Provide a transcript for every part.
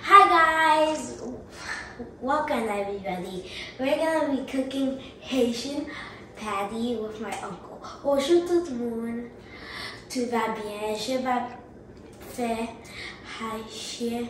Hi guys, welcome everybody. We're gonna be cooking Haitian patty with my uncle. Bonjour tout le monde. Tout va bien. Je vais faire Haitian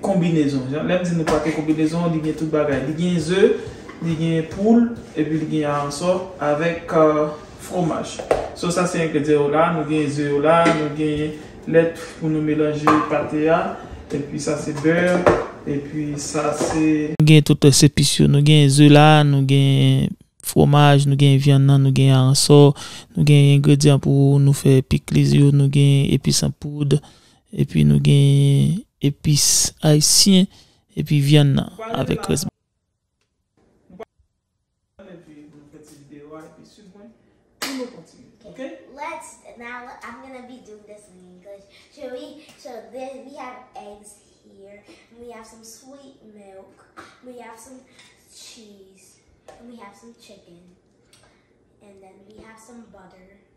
Konbinezon. Jan lè m di nou pate konbinezon, li gen tout bagay. Li gen ze, li gen poul, epi li gen aransò avèk fwomaj. So sa se engredyan yo la, nou gen ze yo la, nou gen lèt pou nou melanje pate a, epi sa se bè, epi sa se. Nou gen tout lès epis yo. Nou gen ze la, nou gen fwomaj, nou gen vyann nan, nou gen aransò, nou gen engredyan pou nou fè pikliz yo, nou gen epis an poud, Epi nou gen epis ayisyen epi vyann nan avèk rès bagay.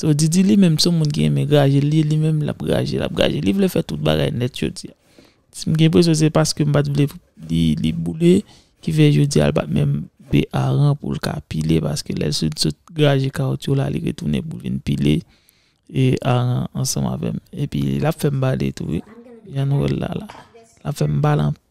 So Didi li menm son moun ki renmen graje li li menm lap graje lap graje li vle fè tout bagay nèt jodia m gen enpresyon se paske m pat vle li boule ki fè jodia l pat menm vle aran pou l ka pile paske lè l sot sot graje kawoutchou la li retounen pou l vin pile aran ansanm avèm epi lap fèm bale tou wi jan nou wèl la lap fèm bale anpil.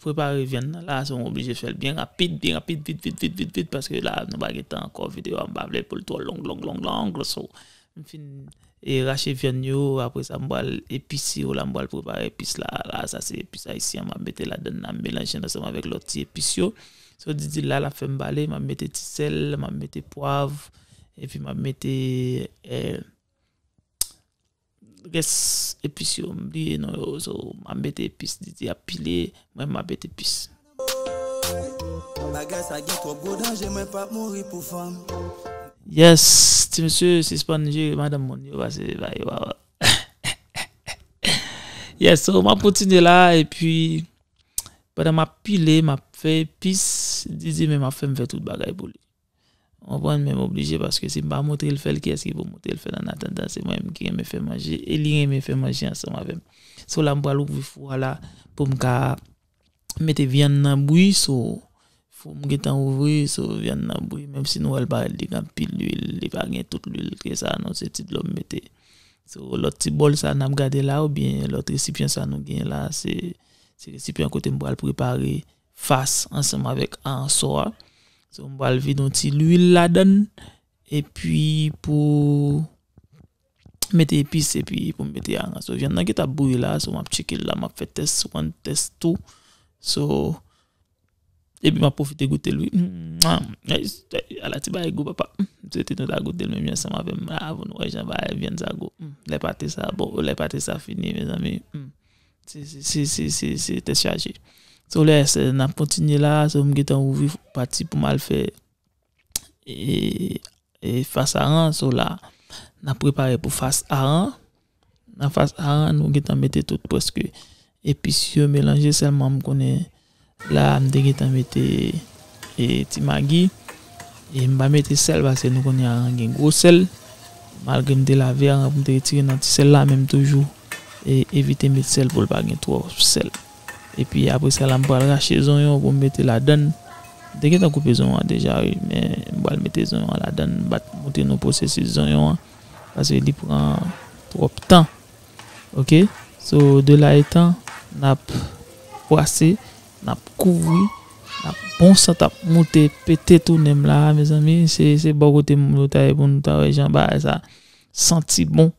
Prepare vyann nan la se ou oblije fèl byen rapid byen rapid vit vit vit vit vit paske la nou pa gen tan ankò videyo a m pa vle poul twò long long long long so m fin e rache vyann yo apre sa m pral epise yo la m pral prepare epis la la sa se epis ayisyen map mete ladann nan m melanje l ansanm avèk lòt ti epis yo so di di l la lap fèm pale map mete ti sèl map mete pwav epi map mete Res epis yo m bliye non yo so map mete epis Didi ap pile mwen map mete epis. Yes ti mesye sispann jere madanm moun yo pase ba yo pawòl. Yes so map kontinye la epi pandan map pile map fè epis Didi menm ap fèm fè tout bagay pou li. Ou konprann men m oblije paske si m pa montre l fè l kiyès ki pou montre l fè l annatandan se mwen menm ki renmen fè manje e li renmen fè manje ansanm avè m. So la m pral ouvri fou a la pou m ka mete vyann nan bwi so fou m gentan ouvri so vyann nan bwi menm si nou wè l pa li gen anpil luil li pa gen tout luil ke sa non se ti dlo m mete. So lòt ti bòl sa n ap gade la oubyen lòt resipyan sa nou gen la se resipyan kote m pral prepare fas ansanm avèk aransò a so m pral vide yon ti lwil ladann epi pou mete epis epi pou mete aransò vyann nan ki tap bouyi la so map tcheke l la map fè tès sou wan tès tou so epi map pwofite goutel wi ala ti bagay gou papa m swete nou ta goutel menm jan ansanm avèm la avan nou wè jan bagay vyann sa gou lè pate sa bon lè pate sa fini mezanmi. Se tèt chaje. So lè se nap kontinye la, so m gentan ouvri pati pou mal fè e fas a an, so la nap prepare pou fas a an. Nan fas a an nou gentan mete tout prèske epis yo melanje sèlman m konnen La a m te gentan mete ti magi e m pa mete sèl paske nou konnen aran gen gwo sèl malgre m te lave aran pou m te retire nan ti sèl la men m toujou evite met sèl pou l pa gen twòp sèl epi apre sa la m pral rache zonyon pou m mete ladann m te gentan koupe zonyon an deja wi men m pral mete zonyon an ladann m pa t montre nou pwosesis zonyon an paske li pran twòp tan. Ok so de la etan nap bwase nap kouvri nap bon sant ap moute pete tounem la mezanmi se se bon kote moun yo ta ye pou nou ta wè jan bagay sa santi bon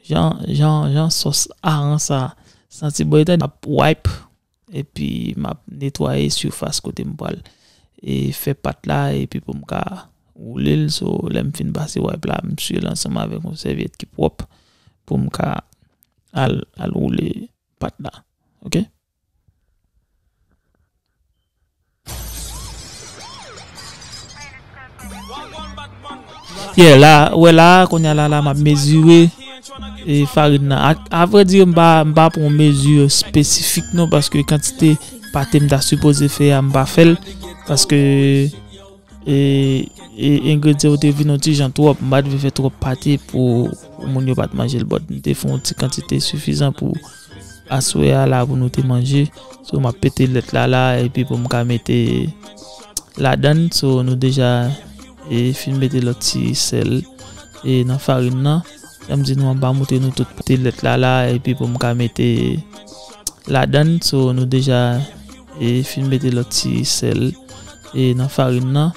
jan jan jan sos aran sa santi bon etan nap wipe epi map netwaye sifas kote m pral e fè pat la epi pou m ka woule l so lèm fin pase wipe la m siye l ansanm avèk yon sèvyèt ki pwòp pou m ka al al woule pat la ok. Yeah la ou wè la konya la la map mezire e farin nan ak a vrai dire m pa m pa pran mesure spesifik non paske kantite pate m ta sipoze fè a m pa fè l paske e e engredyan yo te vin yon ti jan twòp m pa t vle fè twòp pate pou moun yo pat manje l but m te fè yon ti kantite sifizan pou Aswè a la pou nou te manje. So map pete lèt la la epi pou m ka mete ladann. So nou deja e fin mete lòt ti sèl e nan farin nan. Janm di nou an pa moute nou tout pete lèt la la epi pou m ka mete ladann. So nou deja e fin mete lòt ti sèl e nan farin nan.